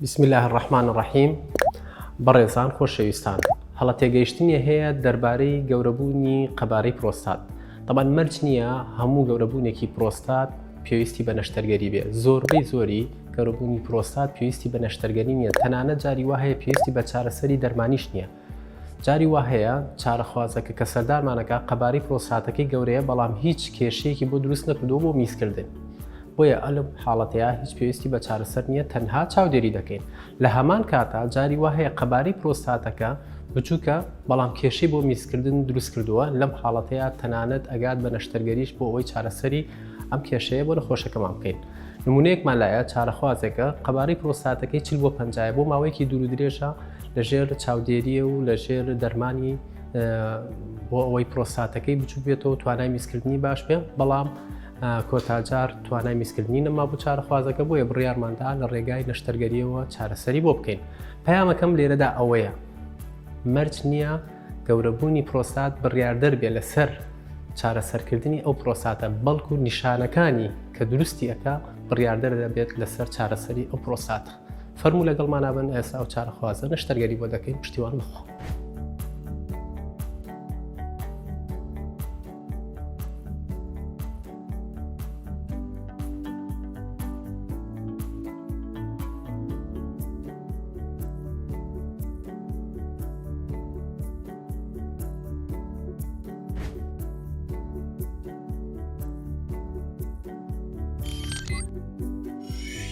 بسم اللە الرحمن الرحیم بەڕێزان خۆشەویستان هەڵە تێگەیشتنی هەیە دەربارەی گەورەبوونی قەبارەی پرۆستات تەبان مەرج نییە هەموو گەورەبوونێکی پرۆستات پێویستی بە نەشتەرگەری بێ زۆربەی زۆری گەورەبوونی پرۆستات پێویستی بە نەشتەرگەری نیە تەنانە جاری وهەیە پێویستی بە چارەسەری دەرمانیش نییە جاری وا هەیە چارەخوازەکە کە سەردانمان ئەکات قەبارەی پرۆستاتەکەی گەورەیە بەڵام هیچ کێشەیەکی بۆ دروست نەکردووە بۆ میزکردن. بۆیە ئەلم حاڵەتەیە هیچ پێویستی بە چارەسەر نییە تەنها چاودێری دەکەین. لە هەمان کاتا جاری وا هەیە قەبارەی پرۆستاتەکە بچووکە بەڵام کێشەی بۆ میزکردن دروست کردووە، لەم حاڵەتەیە تەنانەت ئەگات بە نەشتەرگەریش بۆ ئەوەی چارەسەری ئەم کێشەیە بۆ نەخۆشەکەمان بکەین. نموونەیەکمان لایە، چارەخوازێکە قەبارەی پرۆستاتەکەی چل بۆ پەنجا یە، بۆ ماوەیەکی دوور و درێژە لەژێر چاودێرییە و لەژێر دەرمانی بۆ ئەوەی پرۆستاتەکەی بچوک بێتەوە توانای میزکردنی باش بێ بەڵام کۆتاجار توانای میزکردنی نەما بۆ چارەخوازەکە بۆیە بڕیارماندا لە ڕێگای نەشتەرگەریەوە چارەسەری بۆ بکەین پەیامەکەم لێرەدا ئەوەیە مەرج نییە گەورەبوونی پرۆستات بڕیاردەر بێ لەسەر چارەسەرکردنی ئەو پرۆستاتە بەڵکو نیشانەکانی کە دروستی ئەکا بڕیاردەر دەبێت لەسەر چارەسەری ئەو پرۆستاتە فەرموو لەگەڵمانابن ئێستا ئەو چارەخوازە نەشتەرگەری بۆ دەکەین پشتیوان بخۆ.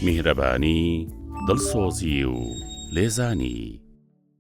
میهرەبانی، دڵسۆزی و لێزانی